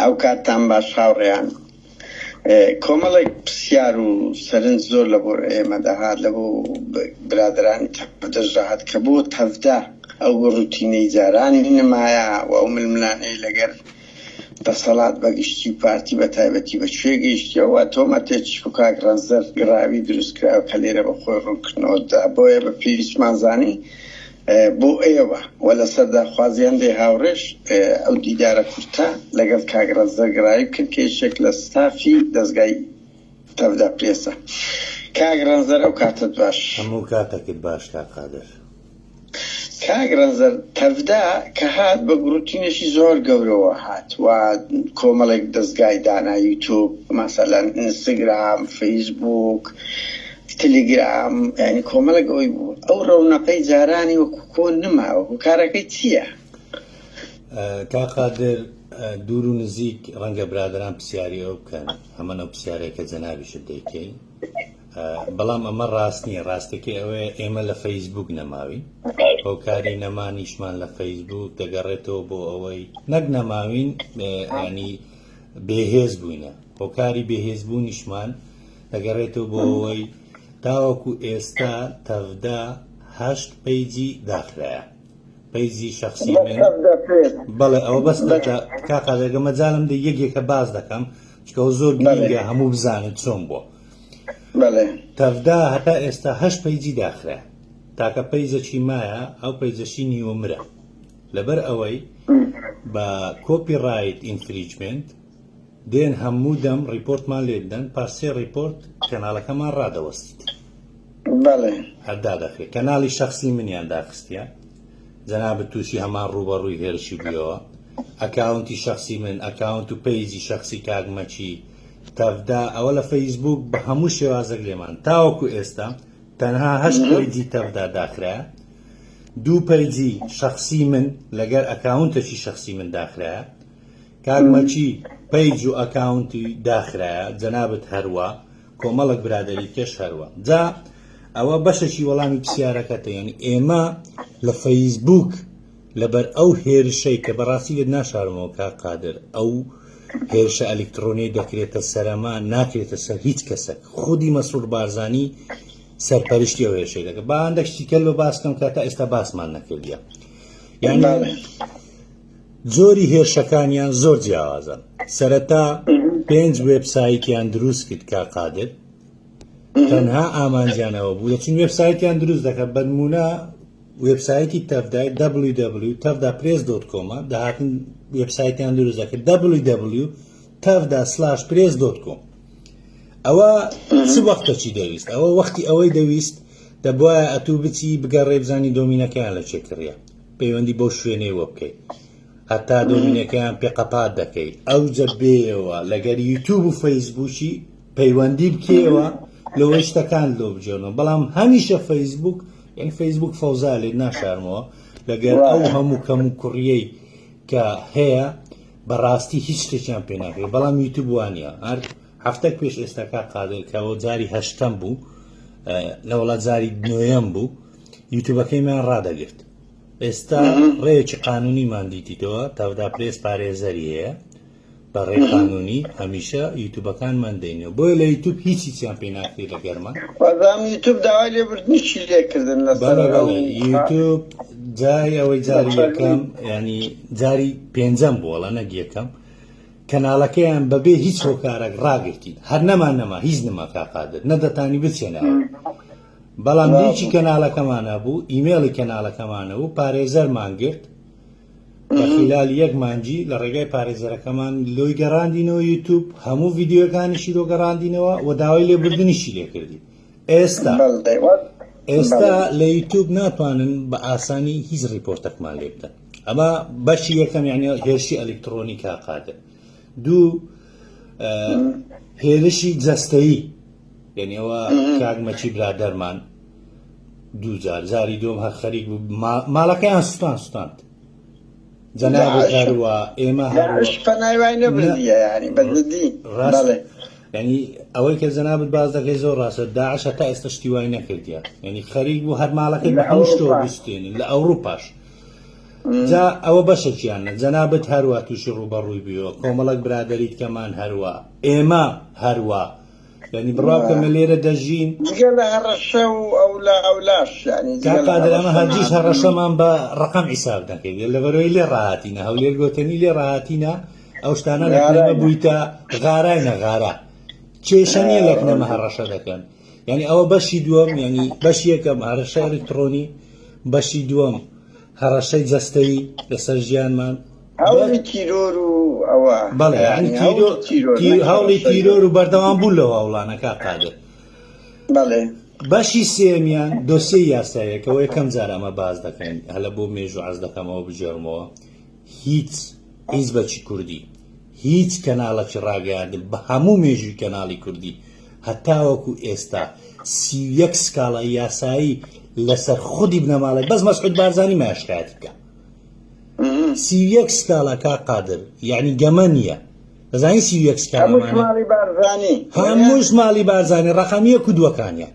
ئەو کاتتان باش هاوڕێیان کۆمەڵێک پرسیار و سەرنج زۆر لە بۆ ئێمە دەهات لە بۆ برادرانی دەژاهات کە بۆ تەفدا ئەو ڕوتینەی جارانی نمایە و ئەو ململانەی لەگەر دەسەڵات بەگشتی و پارتی بە تایبەتی بە شوێ گەیشتەوە تۆمە تێچی و کاک ڕەنزەر گراوی دروستکراوە کە لێرە بە خۆی ڕوونکردنەوەدا بۆیە بە پێویستمانزانی بۆ ئێوە و لە سەرداخوازیان لێ هاوڕێش ئەو دیدارە کورتە لەگەڵ کاک ڕەزدە گرای بکەن کە یەکێک لە ستافی دەزگای تەڤدا پرێسە کاک ڕەنزەر ئەو کاتت باش هەموو کاتەکت باش کاک قادر. کاک ڕەنزەر تەڤدا کە هات بە گوڕوتینێکی زۆر گەورەوە هات و کۆمەڵێک دەزگای دانا یوتوب مەسەلەن ئینستگرام فەیسبووک تلیگرام یانی کۆمەڵێک ئەوەی بوو ئەو ڕەونەقەی جارانی وەکو کۆن نماوە هوکارەکەی چییە؟ کا قادر دوور و نزیک ڕەنگە برادران پرسیاری ئەو بکەن هەمە ئەو پرسیارەیە کە جەنابیشت دەیکەین بەڵام ئەمە ڕاست نییە ڕاستەکەی ئەوەیە ئێمە لە فەیسبوک نەماوین هۆکاری نەمانیشمان لە فەیسبوک دەگەڕێتەوە بۆ ئەوەی نەک نەماوین ینی بێهێز بووینە هۆکاری بێهێزبوونیشمان دەگەڕێتەوە بۆ ئەوەی تاوەکو ئێستا تەڤدا هەشت پەیجی داخرایە پەیجی شخصی من بەڵێ ئەوە بەس کاقا دەگە مەجالم دە یەکێکە باز دەکەم چکەەوە زۆر گرنگە هەموو بزانن چۆن بووە تەفدا هەتا ئێستا هەش پەیجی داخرا تاکە پەیجەکی مایە ئەو پەیجەشی نیوەمرە لەبەر ئەوەی بە کۆپی ڕایت ئینفریجمنت دێن هەموو دەم ڕیپۆرتمان لێ بدەن پاش سێ ڕیپۆرت کەناڵەکەمان ڕادەوەستیت بەڵێ هەر دادەخرێت کەناڵی شخصی منیان داخستیە جەنابت تووشی هەمان ڕووبەڕووی هێرشی بوویەوە ئەکاونتی شخصی من ئەکاونت و پەیجی شخصی کاگمەچی تەفدا ئەوە لە فەیسبوک بە هەموو شێوازەک لێمان تاوەکو ئێستا تەنها هەشت پەیجی تەفدا داخرا دوو پەیجی شخصی من لەگەر ئەکاونتەکی شخصی من داخرایە کاک مەکی پەیج و ئەکاونتی داخرایە جەنابت هەروا کۆمەڵک برادری کێش هەروە جا ئەوە بەشەکی وەڵامی پرسیارەکەتە یعنی ئێمە لە فەیسبوک لەبەر ئەو هێرشەی کە بەڕاستی لێت ناشارمەوە کا قادر ئەو هێرشە ئەلکترۆنی دەکرێتە سەرەما ناکرێتە سەر هیچ کەسێک خودی مەسرور بارزانی سەرپەرشتی ئەو هێرشەی دەکە با هەندێک شتیکە لە باسکەم کە تا ئێستا باسمان نەکردە یعنی جۆری هێرشەکانیان زۆر جیاوازن سەرەتا پێنج وێبسایتیان دروست کرد کا قادر تەنها ئامانجیانەوە بوو دەچون وێبسایتیان دروست دەکە بەنمونە وێبسایتی تەفدای www تەفدا پرێس دۆت کۆمە داهاتن وێبسایتیان دروست دەکرد www تەفدا سلاش پرێس دۆت کۆم ئەوە چ وەختە چی دەویست ئەوە وەختی ئەوەی دەویست دەبواە ئەتوو بچی بگەڕێ بزانی دۆمینەکەیان لە چێکڕە پەیوەندی بەو شوێنەی وە بکەیت هەتا دۆمینەکەیان پێ قەپات دەکەی ئەو جەبێەوە لەگەر یوتوب و فەیسبووکی پەیوەندی بکەوە لەوە شتەکان لۆ بجێنەوە بەڵام هەمیشە فەیسبوک یعنی فەیسبوک فەوزا لێت ناشارمەوە لەگەر ئەو هەموو کەم و کوڕیەی کە هەیە بەڕاستی هیچ شتێکیان پێ ناکرێت بەڵام یوتوب وانە هەر هەفتەک پێش ئێستا کاک قادر کە ئەوە جاری هەشتەم بوو لە وڵات جاری نوێیەم بوو یوتوبەکەیمان ڕادەگرت ئێستا ڕێکی قانونیمان دیتیتەوە تاودا پرێس پارێزەری هەیە بە ڕێ قانونی هەمیشە یوتوبەکانمان دەینەوە بۆیە لە یوتوب هیچی چیان پێ ناکری لە گەرمە یوتوب داوای لێبردنیشی لێکردن لە یوتوب جای ئەوەی جاری یەکەم ینی جاری پێنجەم بووە نەگیەکەم کەنالەکەیان بەبێ هیچ هۆکارەک ڕاگرتین هەر نەمان نەما هیچ نما کاک قادر نە دەتانی بچێنەوە بەڵام لینکی کەنالەکەمانە بوو ئیمێڵی کەنالەکەمانە بوو پارێزەرمان گرت لە خلال یەک مانجی لە ڕێگای پارێزەرەکەمان لۆی گەڕاندینەوە یوتوب هەموو ڤیددیوەکانیشی لۆ گەڕاندینەوە و داوای لێبردنیشی لێکردین ئێستا بەڵ دەیوەت ئێستا لە یوتوب ناتوانن بە ئاسانی هیچ ڕیپۆرتەکمان لێ بدەن ئەمە بەشی یەکەم یعنی هێرشی ئەلکترۆنی کا قادر دوو هێرشی جەستەیی یعنیەوە کاگمەچی برادەرمان دوو جار جاری دوم هەر خەریک بوو ماڵەکەیان سوستان سوستاند جەناوە ئێمە ینی ئەوەی کە جەنابەت باز دەکەی زۆر ڕاستە داعش هەتا ئێستا شتی وای نەکردیە ینی خەریک بوو هەر ماڵەکەی بەشتۆ بستێنین لە ئەوروپاش جا ئەوە بەشەکیانە، جەنابت هەروا تووشی ڕووبەڕووی بویەوە، کۆمەڵەک برادەری دیکەمان هەروا، ئێمە هەروا، یانی بڕاو کە مە لێرە دەژین. جگە لە هەڕەشە و ئەولا ئەولاش یانی جگە لە هەڕەشە. کاک قادر ئەمە هەرگیز هەڕەشەمان بە ڕەقەم حیساب نەکردووە، لەبەرئەوەی لێ ڕاهاتینە، هەولێر گۆتەنی لێ ڕاهاتینە، ئەو شتانە لە کوێ نەبوویتە، غاراینە غارا، کێشە نییە لە کنە مە هەڕەشە دەکەن. یانی ئەوە بەشی دووەم یانی بەش یەکەم هەڕەشە ئەلکتڕۆنی بەشی دووەم هەڕەشەی جەستەیی لەسەر ژیانمان هەوڵی تیرۆر و ئەوە بەڵێ هەوڵی تیرۆر و بەردەوام بوو لەو هەوڵانەکە قادر بەڵێ بەشی سێمیان دۆسیە یاسایەکەەوە یەکەم جار ئەمە باز دەکەین هەلە بۆ مێژوو عز دەکەمەوە بجێڕمەوە هیچ حیزبەکی کوردی هیچ کەناڵەکی ڕاگەیاندن بە هەموو مێژووی کەناڵی کوردی هەتاوەکو ئێستا سی و یەک سکاڵای یاسایی لەسەر خودی بنەماڵەی بەس مەسعود بارزانی مایە شکایەتی بکە سی و یەک سکاڵا کا قادر یعنی گەمە نییە دەزانی سی و یەک سکاڵا هەموو شماڵی بارزانی هەموو شماڵی بارزانی ڕەقەمیە کودوەکانیان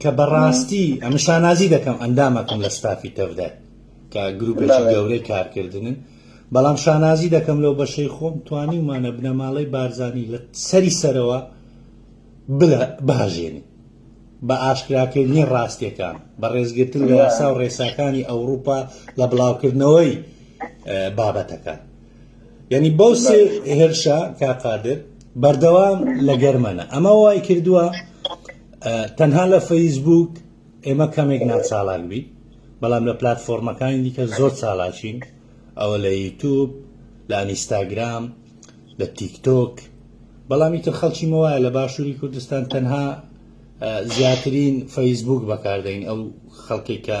کە بەڕاستی ئەمە شانازی دەکەم ئەندامەکەم لە ستافی تەفدای کە گروپێکی گەورەی کارکردنن بەڵام شانازی دەکەم لەو بەشەی خۆم توانی ومانە بنەماڵەی بارزانانی لە سەری سەرەوە بلە باژێنی بە ئاشکراکردنی ڕاستیەکان بە ڕێزگرتن لە یاسا و ڕێساکانی ئەوروپا لە بڵاوکردنەوەی بابەتەکان یعنی بەو سێ هێرشە کاقادر بەردەوام لە گەرمەنە ئەمە وای کردووە تەنها لە فەیسبووک ئێمە کەمێک ناچالاک بین بەڵام لە پلتفۆرمەکانی دیکە زۆر چالاچین ئەوە لە یوتوب لە ئەنیستاگرام لە تیکتۆک بەڵامی تر خەڵکی مەوایە لە باشووری کوردستان تەنها زیاترین فەیسبوک بەکاردەین ئەو خەڵکێک کە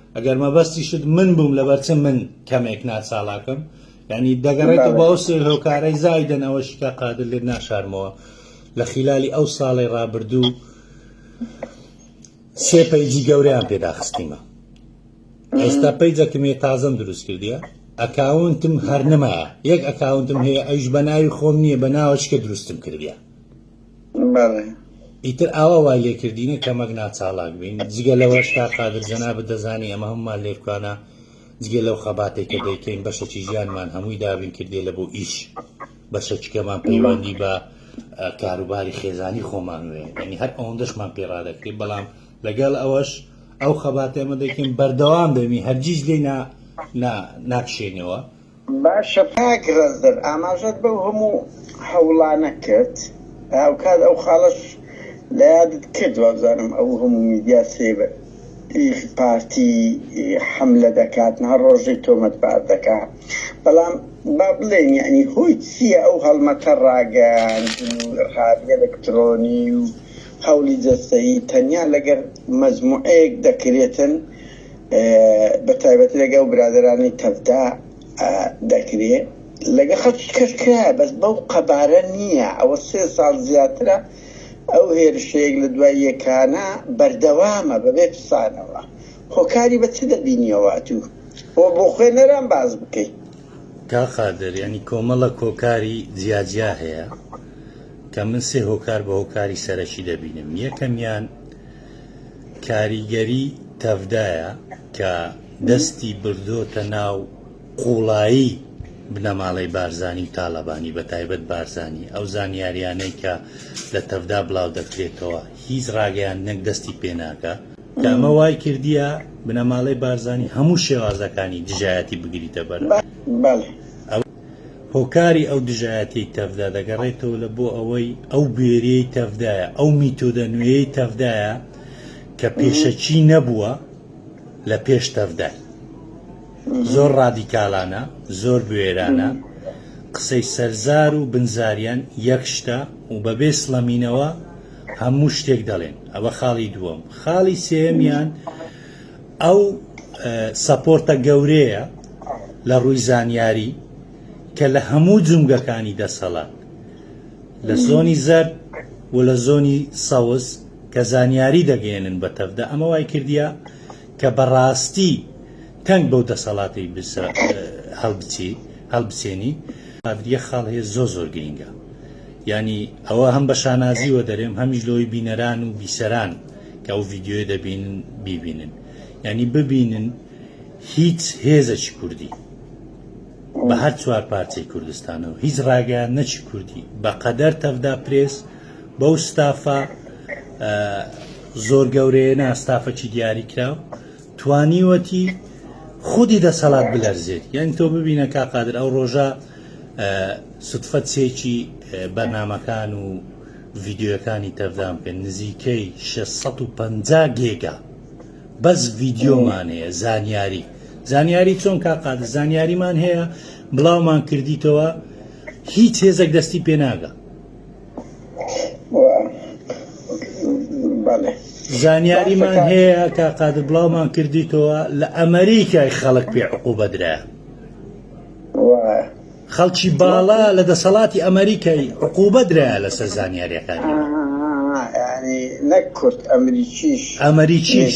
ئەگەر مەبەستیشت من بووم لەبەر چ من کەمێک ناچاڵاکم یعنی دەگەڕێتەوە بۆ ئەو سێ هۆکارەی زایدن ئەوەشی کە قادر لێت ناشارمەوە لە خیلالی ئەو ساڵی ڕابردوو سێ پەیجی گەوریان پێداخستیمە ئێستا پەیجەکمێ تازەم دروست کردیە ئەکاونتم هەر نمایە یەک ئەکاونتم هەیە ئەیش بە ناوی خۆم نییە بە ناوەشکە دروستم کردیە بەڵێ. ئیتر ئاوا وای لێ کردینە کە مەگنا چاڵاک بین جگە لەوەش تا قادر جەنابت دەزانی ئەمە هەمومان لێرکانە جگە لەو خەباتێک کە دەیکەین بەشەکی ژیانمان هەمووی دابین کردێ لە بۆ ئیش بەشەکیکەمان پەیوەندی بە کاروباری خێزانی خۆمان وێ ینی هەر ئەوەندەشمان پێڕادەکری بەڵام لەگەڵ ئەوەش ئەو خەباتێمە دەکەین بەردەوام دەبین هەرگیز لێ ناکشێنەوە باشە کاک ڕەزدەر ئاماژەت بەو هەموو هەوڵانە کرد هاوکات ئەو خاڵەش لە یادت کرد وابزانم ئەو هەموو میدیا سێ بە ی پارتی حەملە دەکات نها ڕۆژەی تۆمەت بار دەکا بەڵام با بڵێن یعنی هۆی چییە ئەو هەڵمەتە ڕاگەیاندن و ڕقابی ئەلکترۆنی و هەوڵی جەستەیی تەنیا لەگەر مەجموعەیەک دەکرێتن بە تایبەتی لەگە و برادرانی تەفدا دەکرێ لەگە خەڵکی کەشکرا بەس بەو قەبارە نییە ئەوە سێ ساڵ زیاترە ئەو هێرشەیەک لە دوای یەکانە بەردەوامە بەبێ پسانەوە هۆکاری بە چ دەبینیەوە تو بۆ بۆ خوێنەران باز بکەیت تا قادر ینی کۆمەڵە کۆکاری جیاجیا هەیە کە من سێ هۆکار بە هۆکاری سەرەکی دەبینم یەکەمیان کاریگەری تەڤدایە کە دەستی بردۆتە ناو قوڵایی بنەماڵەی بارزانی و تاالبانی بە تایبەت بارزانانی ئەو زانیاریانەی کە لە تەڤدا بڵاو دەکرێتەوە هیچ ڕاگەیان نەک دەستی پێناکە کامە وای کردیە بنەماڵەی بارزانانی هەموو شێوازەکانی دژایەتی بگریتە بەر. هۆکاری ئەو دژایەتیەی تەڤدا دەگەڕێتەوە لە بۆ ئەوەی ئەو بوێریەی تەڤدایە ئەو میتۆدە نوێیەی تەڤدایە کە پێشەکی نەبووە لە پێش تەڤدای زۆر ڕادیکالانە زۆر بوێرانە قسەی سەرزار و بنزاریان یەک شتە و بەبێ سڵەمینەوە هەموو شتێک دەڵێن ئەوە خاڵی دووەم خاڵی سێمیان ئەو سەپۆرتە گەورەیە لە ڕووی زانیاری کە لە هەموو جومگەکانی دەسەڵات لە زۆنی زەرد و لە زۆنی سەوز کە زانیاری دەگەێنن بە تەفدا ئەمە وای کردیا کە بەڕاستی تەنگ بەو دەسەڵاتی هەڵبچی هەڵبچێنی ئادریە خاڵ هەیە زۆ زۆر گرینگە ینی ئەوە هەم بە شانازیوە دەرێم هەمیش لەوەی بینەران و بیسەران کە ئەو ڤیدیۆیە دەبینن بیبینن یعنی ببینن هیچ هێزەکی کوردی بە هەر چوار پارچەی کوردستانەوە هیچ ڕاگەیان نەچی کوردی بە قەدەر تەفدا پرێس بەو ستافە زۆر گەورەیە ناستافەکی دیاری کراو توانیوەتی خودی دەسەڵات بلەرزێت یان تۆ ببینە کا قادر ئەو ڕۆژە سوتفەت سێکی بەرنمەکان و ڤیدیۆیەکانی تەردان بکەن نزیکەی شەش سەد و پەنجا گێگا بەس ڤیدیۆمان هەیە زانیاری زانیاری چۆن کا قادر زانیاریمان هەیە بڵاومان کردیتەوە هیچ هێزێک دەستی پێناگە زانیاریمان هەیە کا قادر بڵاومان کردیتەوە لە ئەمریکای خەڵک پێ عقوبەدرا خەڵکی باڵا لە دەسەڵاتی ئەمەریکای عقوبە درایە لەسەر زانیاریەکانی من. ئەمەریکیش.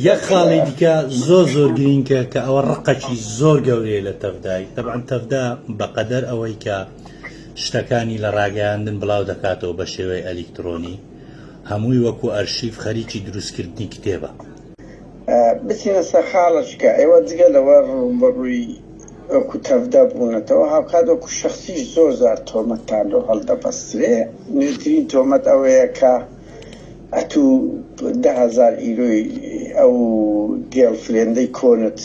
یەک خاڵی دیکە زۆر زۆر گرینکە کە ئەوە ڕقەکی زۆر گەورەیە لە تەڤدای تەبعەن تەڤدا بەقەدەر ئەوەی کە شتەکانی لە ڕاگەیاندن بڵاو دەکاتەوە بە شێوەی ئەلیکترۆنی هەمووی وەکو ئەرشیف خەریکی دروستکردنی کتێبە بچینە سەر خاڵەچکە، ئێوە جگە لەوە ڕووبەڕووی وەکو تەڤ دەبوونەتەوە، هاوکات وەکو شەخسیش زۆر جار تۆمەتتان لۆ هەڵدەبەسترێ، نوێترین تۆمەت ئەوەیە کە ئەتوو دە هەزار ئیرۆی ئەو گێڵ فرێندەی کۆنت،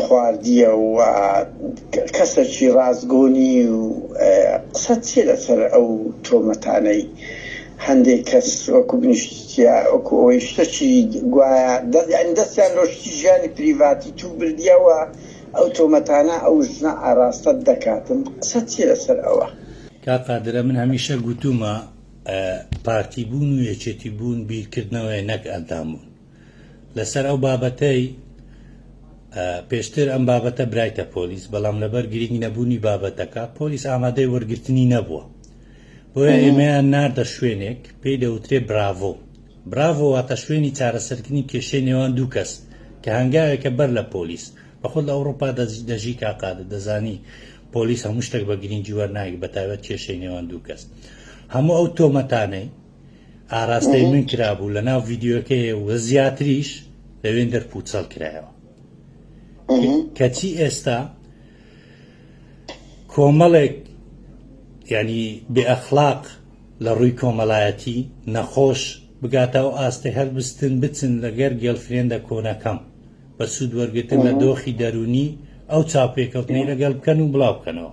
خواردیە و کەسەکی ڕاستگۆنی و قسەت چیە لەسەر ئەو تۆمەتانەی هەندێک کەس وەکو بنیشتیە وەکو ئەوەی شتەکی گوایە دەستیان لۆ شتی ژیانی پریڤاتی تو بردیە و ئەو تۆمەتانە ئەو ژنە ئاراستەت دەکاتن قسەت چیە لەسەر ئەوە. کاک قادرە من هەمیشە گوتومە پارتی بوون و یەکێتی بوون بیرکردنەوەیە نەک ئەندام بوون. لەسەر ئەو بابەتەی پێشتر ئەم بابەتە برایتە پۆلیس بەڵام لەبەر گرنگ نەبوونی بابەتەکە پۆلیس ئامادەی وەرگرتنی نەبووە بۆیە ئێمەیان ناردە شوێنێک پێی دەوترێ براڤۆ براڤۆ واتە شوێنی چارەسەرکردنی کێشەی نێوان دوو کەس کە هەنگاوێکە بەر لە پۆلیس بەخود لە ئەوروپا دەژی کاقادە دەزانی پۆلیس هەموو شتێک بە گرنگی وەرناگی بەتابەت کێشەی نێوان دوو کەس هەموو ئەو تۆمەتانەی ئاراستەی من کرابوو لە ناو ڤیددیوەکەی و زیاتریش لەوێن دەر پوچەڵ کرایەوە کەچی ئێستا کۆمەڵێک ینی بێئەخلاق لە ڕووی کۆمەلایەتی نەخۆش بگاتە و ئاستی هەلبستن بچن لەگەر گەلفرێندە کۆنەکەم بە سوود وەرگتن لە دۆخی دەرونی ئەو چاپێکەوتنی لەگەڵ بکەن و بڵاوکەنەوە